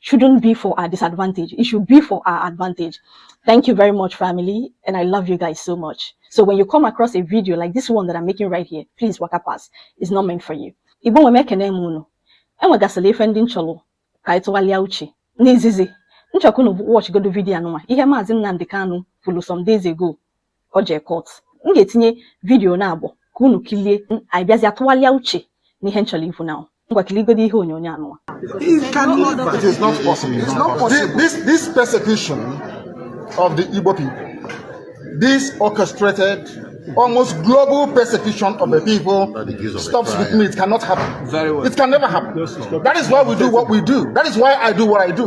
shouldn't be for our disadvantage. It should be for our advantage. Thank you very much, family. And I love you guys so much. So when you come across a video like this one that I'm making right here, please waka pass. It's not meant for you. Igbo nwe m ekene m unu. Enwegasịla ife ndị m chọrọ ka anyị tụgharịa uche. N'izizi, m chọ ka unu watch godo vidio anụnwa. Ihe Maazị Nnamdi Kanu kwuru some days ago ka ọ jee court m ga-etinye vidiyo naabọ ka unu kilie anyị bịazịa tụgharịa uche n'ihe m chọrọ ikwu now ngwa kiligodo ihe onyonyo anụnwa It can never. It is not possible. It's not Thi- possible. This, this persecution of the Igbo people, this orchestrated, almost global persecution of the people, stops with me. It cannot happen. Very well. It can never happen. That is why we do what we do. That is why I do what I do.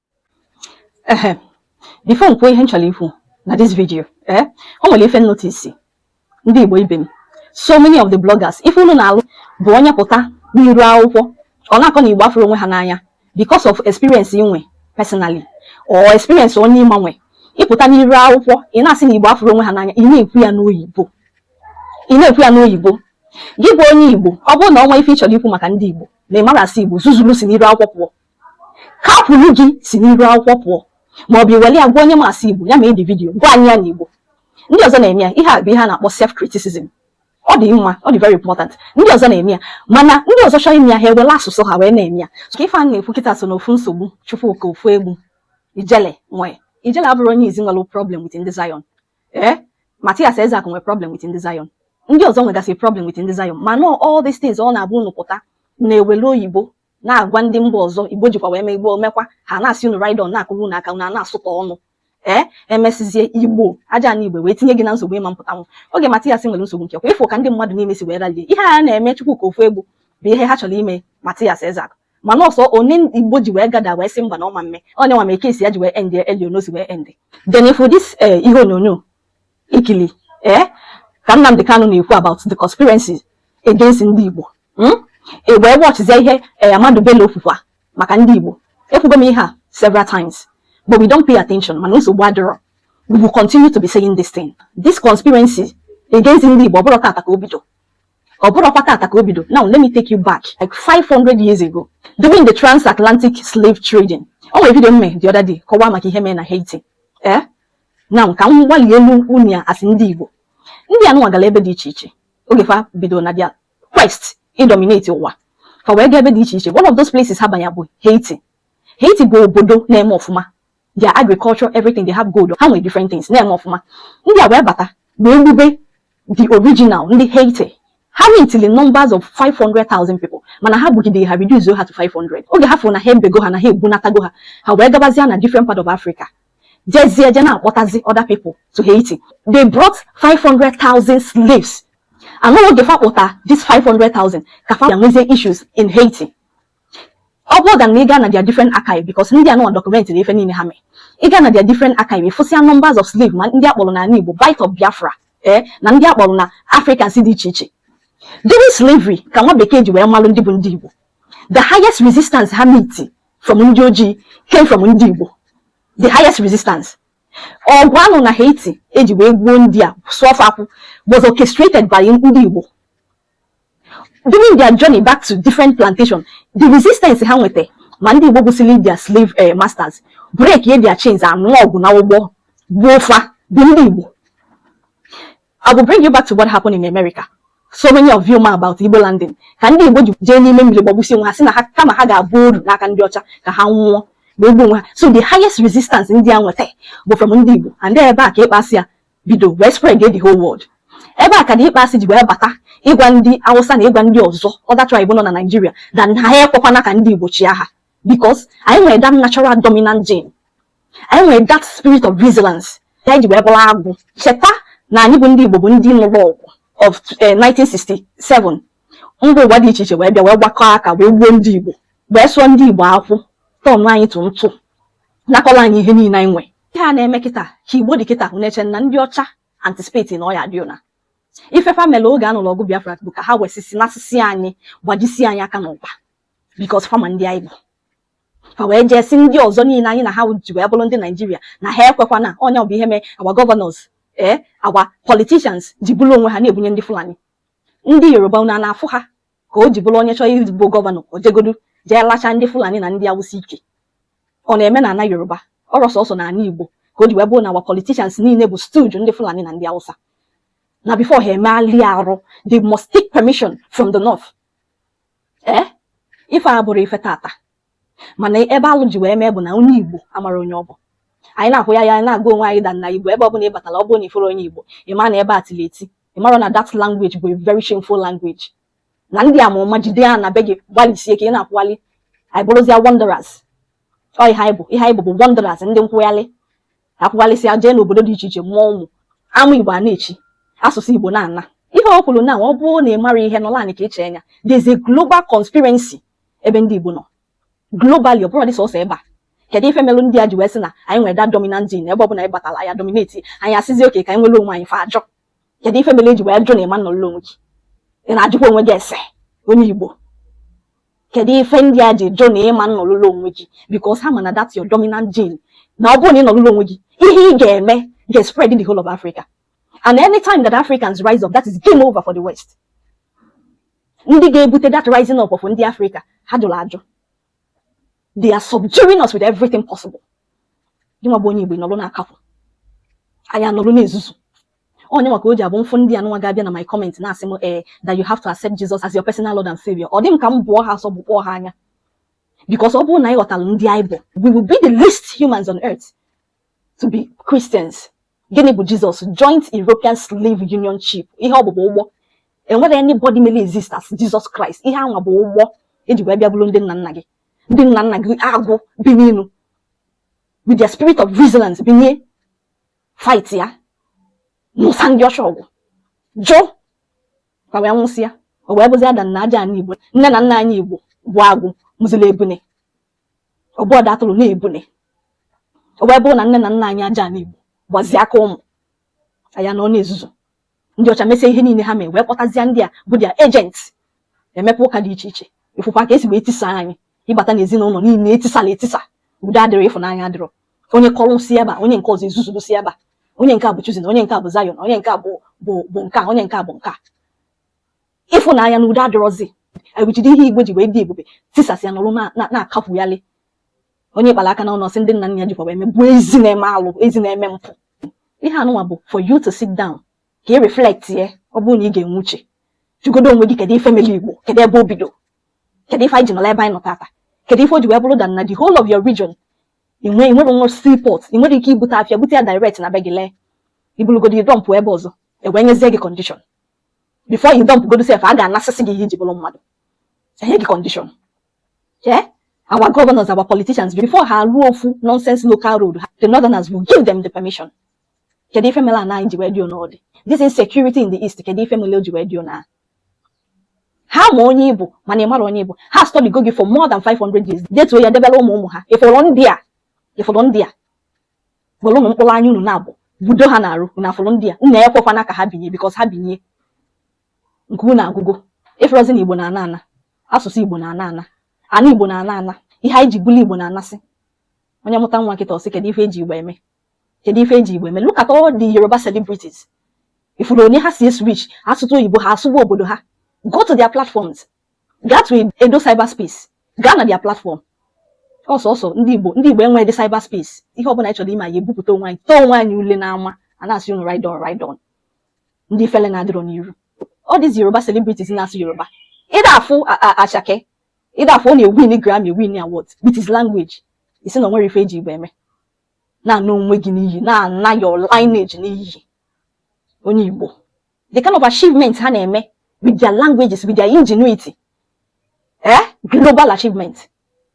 ehe before m kwuo ihe m chọrọ ikwu na this video ee eh, o nwere ife m notice ndị Igbo ibe m so many of the bloggers ife unu na-alụ bụ onye pụta n'iru akwụkwọ ọ na-akọ na Igbo afụrọ onwe ha n'anya because of experience i nwe personally or experience onye ị ma nwe ị pụta n'iru akwụkwọ ị na-asị na Igbo afụrọ onwe ha n'anya ị na-ekwu ya n'oyibo ị na-ekwu ya n'oyibo gị bụ onye Igbo ọ bụrụ na o nwe ife ị chọrọ ikwu maka ndị Igbo na ị marọ asụ Igbo zuzuru si n'iru akwụkwọ pụọ ka a kwuru gị si n'iru akwụkwọ pụọ ma ọ bụ i were ya gwa onye ma asụ Igbo ya mee the video gwa anyị ya na Igbo ndị ọzọ na-eme ya ihe a bụ ihe a na-akpọ self criticism ọ dị mma ọ dị very important ndị ọzọ na-eme ya mana ndị ọzọ chọrọ ime ya ha ewere asụsụ ha wee na-eme ya so ka ife a na-ekwu kịta so n'ofu nsogbu Chukwuka Ofoegbu Ijele nwee Ijele abụrọ onye izizi nwere problem with ndị Zion ee eh? Mathias Ezeaku nwere problem with ndị Zion ndị ọzọ nwegasị problem with ndị Zion mana all these things ọ na-abụ unu pụta na-ewere oyibo na-agwa ndị mba ọzọ Igbo jikwa wee mee Igbo mekwa ha na-asị unu ride on na-akụrụ unu aka unu a na-asụkọ ọnụ ee emesizie igbo aja na igbe wee tinye gị na nsogbu ị ma mpụtanwu oge Mathias nwere nsogbu nke kwa ị fụ ka ndị mmadụ niile si wee ralie ihe a na-eme Chukwuka Ofoegbu bụ ihe ha chọrọ ime Mathias Ezeaku mana ọsọ onye Igbo ji wee gada wee sị mba na ọ ma mme onye nwa ma eke esi ya ji wee end elio n'osi wee end then ị fụ this eh, ihe onyonyo i kili ee eh? ka Nnamdi Kanu na-ekwu about the conspiracy against ndị Igbo hmm? i wee watchzie ihe eh, Ahmadu Bello kwukwa maka ndị Igbo ekwugo m ihe a several times but we don't pay attention mana nsogbu adịrọ we will continue to be saying this thing this conspiracy against ndị Igbo ọ bụrọ taata ka o bido ọ bụrọkwa taata ka o bido now let me take you back like 500 years ago during the transatlantic slave trading o nwere vidio m me the other day kọwaa maka ihe mee na Haiti ee eh? now ka m gbalielu unu ya as ndị Igbo ndị anụnwa gara ebe dị iche iche oge fa bidoro na their quest ịdominate ụwa fa wee gaa ebe dị iche iche one of those places ha banya bụ Haiti Haiti bụ obodo na-eme ọfụma their agriculture everything they have gold ha nwere different things na-eme ọfụma ndị a wee bata wee gbube the original ndị Haiti ha meetili numbers of 500,000 people mana ha gbugide ha reduce ha to 500 oge ha fụrụ na ha ebego ha na ha egbunatago ha ha wee gabazia na different part of Africa jezie je na-akpọtazi other people to Haiti they brought 500,000 slaves and oge fa kpọta this 500,000 ka fa nwezie issues in Haiti ọ bụrụ that na ị gaa na their different archive because ndị anụwa documentịrị ife niile ha mee ị gaa na their different archive ị fụsịa numbers of slaves ma ndị a kpọrọ n'ala Igbo Bight of Biafra ee eh, na ndị a kpọrọ na Africans dị iche iche during slavery ka nwa bekee ji wee malụ ndị bụ ndị Igbo the highest resistance ha meet from ndị ojii came from ndị Igbo the highest resistance ọgụ a nụ na Haiti e ji wee gbuo ndị a sụọ fa akwụ was orchestrated by ndị Igbo During their journey back to different plantation, the resistance ha nweta ma ndị Igbo gbusili their slave eh, masters breakie their chains nụọ ọgụ na ụgbọ gbuo fa bụ ndị Igbo. I will bring you back to what happened in America. so many of you ma about Igbo landing ka ndị Igbo ji jee n'ime mmiri gbagbusi onwe ha sị na ha kama ha ga-abụ oru n'aka ndị ọcha ka ha nwụọ ma egbu onwe ha so the highest resistance ndị a nweta bụ from ndị Igbo and ebe a ka ịkpọasị a bido wee spread the whole world ebe a ka the asị ji wee bata ịgwa ndị awụsa na ịgwa ndị ọzọ other tribe nọ na Nigeria na ha ekwekwana ka ndị igbo chịa ha because anyị nwere that natural dominant gene anyị nwere that spirit of resilience ya anyị ji wee bụrụ agụ cheta na anyị bụ ndị igbo bụ ndị nụrụ ọgụ of 1967 eh, mba ụwa dị iche iche wee bịa wee gbakọ aka wee gbuo ndị igbo wee sụọ ndị igbo akwụ turnụọ anyị to ntụ nakọlụ anyị ihe niile anyị nwee ihe a na-eme kịta ka igbo dị kịta na-eche na ndị ọcha anticipate na ọ ya dị ụna ife fa mere oge a nụrụ ọgụ biafra bụ ka ha wesisi n'asịsị anyị gbajisi anyị aka na ọkpa because fa ma ndị anyị bụ fa wee jee sị ndị ọzọ niile anyị na ha ji wee bụrụ ndị Nigeria na ha ekwekwana onye ọ bụ ihe mee our governors ee eh, our politicians ji buru onwe ha na-ebunye ndị fulani ndị yoruba ụnụ na-afụ ha ka o ji bụrụ onye chọọ ịbụ governor o jegodu jee lacha ndị fulani na ndị awụsa ike ọ na-eme na ana Yoruba ọ rọ sọsọ na ana Igbo ka o ji wee bụrụ na our politicians niile bụ stooge ndị Fulani na ndị Hausa na before ha emeghalịa arụ they must take permission from the north ee eh? ife a abụrọ ife tata mana ebe alụ ji wee mee bụ na onye Igbo amarọ onye ọ bụ anyị na-ekwu ya ya anyị na-agwa onwe anyị that na Igbo ebe ọ bụla ị batara ọ bụrụ na ị fụrụ onye Igbo ị ma na ebe a tiri eti ị mara na that language bụ a very shameful language na ndị ama ụma jide ya na be gị gbalịsie ka ị na-akwụghalị anyị bụrụzia wanderers ọ ihe anyị bụ ihe anyị bụ bụ wanderers ndị nkwụghalị akwụghalịsịa jee n'obodo dị iche iche mụọ ụmụ ama igbo a na-eti asụsụ igbo na-ana ihe o kwuru na ọ bụrụ na ị mara ihe nọla anyị ka iche anya there's a global conspiracy ebe ndị igbo nọ globally ọ bụrọ dị sọsọ ebe a kedu ife melụ ndị a ji wee sị na anyị nwere that dominant gene ebe ọ bụla anyị batala ya dominate anyị asịzi okay ka anyị nwere onwe anyị fa ajụ kedu ife melụ e ji wee jụ na ị ma-anọrọ onwe gị ị na-ajụkwa onwe gị ese onye Igbo kedu ife ndị a ji jụ na ị ma-anọrọ onwe gị because ha ma na that's your dominant gene na ọ bụrụ na ị nọrọ onwe gị ihe ị ga-eme ga-spread in the whole of Africa and anytime that Africans rise up that is game over for the West ndị ga-ebute that rising up of ndị Africa ha jụrụ ajụ they are subduing us with everything possible gị nwa bụ onye Igbo nọrọ na-akapụ anyị anọrọ na-ezuzu onye maka o ji abụ m fụ ndị anụnwa ga-abịa na my comment na-asị m ee eh, that you have to accept Jesus as your personal Lord and Savior ọ dị m ka m bụọ ha asọ bụkpọọ ha anya because ọ bụrụ na anyị ghọtara ndị anyị bụ we will be the least humans on earth to be Christians Gịnị bụ Jizọs? Joint European Slave Union Ship, ihe ọ bụ bụ ụgbọ. Enwerọ anybody mere exist as Jesus Christ, ihe anwa bụ ụgbọ eji wee bịa buru ndị nna nna gị. Ndị nna nna gị agụ bi n'enu with their spirit of resilience binye fight ya nụsa ndị ọcha ọgụ jụ ka wee nwụsịa o wee bụzia taa na aja ana Igbo nne na nna anyị Igbo bụ agụ mụziri ebune ọ bụ ọda atụrụ na ebune o wee bụrụ na nne na nna anyị aja ana Igbo gbazie aka ụmụ anyị anọ na-ezuzu ndị ọcha mesie ihe niile ha mee wee kpọtazie ndị a bụ their agents emepe ụka dị iche iche ị fụkwa ka esi wee tisa anyị ị bata n'ezinụlọ niile etisala etisa udo adịrọ ịfụnanya adịrọ onye kọrọ si ebe a onye nke ọzọ ezuzuru si ebe a onye nke a bụ Chosen onye nke a bụ Zion onye nke a bụ bụ bụ nke a onye nke a bụ nke a ịfụnanya na udo adịrọzi ewuchiri ihe Igbo ji wee dị ebube tisasịa nọrọ na-akapụgharị onye kpara aka n'alụsị ndị nna nna ya jikwa wee megbuo a sị na-eme alụ a sị na-eme mpụ ihe anụnwa bụ for you to sit down ka ị reflect ye ọ bụrụ na ị ga-enwe uche jụgodo onwe gị kedu ife mere igbo kedu ebe o bido kedu ife anyị ji nọla ebe anyị nọ tata kedu ife o ji wee bụrụ taa na the whole of your region ị nwe ị nwerọ nwa seaport ị nwerọ ike ibute afịa bute ya direct na be gị lee i bulugodi dump ebe ọzọ e wee nyezie gị condition before ị dump godu sef a ga-anasịsị gị ihe i ji bụrụ mmadụ enye gị condition yeah? our governors our politicians before ha ruo ofu nonsense local road the northerners will give them the permission kedu ife mere ana anyị ji wee dị n'ụdị this insecurity in the east kedu ife mere o ji wee dị na ha ma onye ị bụ mana ị marọ onye ị bụ ha study go gị for more than 500 years detuo ya debere ụmụ ụmụ ha ị fụrụ ndị a ị fụrụ ndị a were ụmụ mkpụrụ anya unu na-abụ budo ha n'arụ unu afụrụ ndị a unu ekwekwana ka ha binye because ha binye nke unu agwụgo ị fụrọzi na Igbo na-ana ana asụsụ Igbo na-ana ana ana Igbo na-ana ana ihe anyị ji bụlụ Igbo na-anasị onye mụta nwa nkịta ọ sị kedu ife eji igbo eme kedu ife eji igbo eme look at all the Yoruba celebrities ị fụrụ ụdị ha si switch asụtụ oyibo ha asụwa obodo ha go to their platforms gaa to Edo Cyberspace gaa na their platform ọsọsọ ndị Igbo ndị Igbo enweghịdị cyberspace ihe ọbụla anyị chọrọ ime anyị ebupụta onwe anyị tọọ onwe anyị ule n'ama a na-asị unu ride on ride on ndị fele na-adịrọ n'iru all these Yoruba celebrities na-asụ Yoruba ị da-afụ Asake ị da-afụ ọ na-ewin Grammy win award with his language ị sị na o nwere ife eji Igbo eme na-ana onwe gị n'iyi na-ana your lineage n'iyi onye Igbo the kind of achievement ha na-eme with their languages with their ingenuity eh global achievement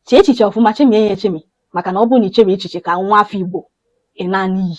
chee echiche ọfụma chemie ya echemi maka na ọ bụrụ na i cheghị echiche ka nwa afọ Igbo ị naa n'iyi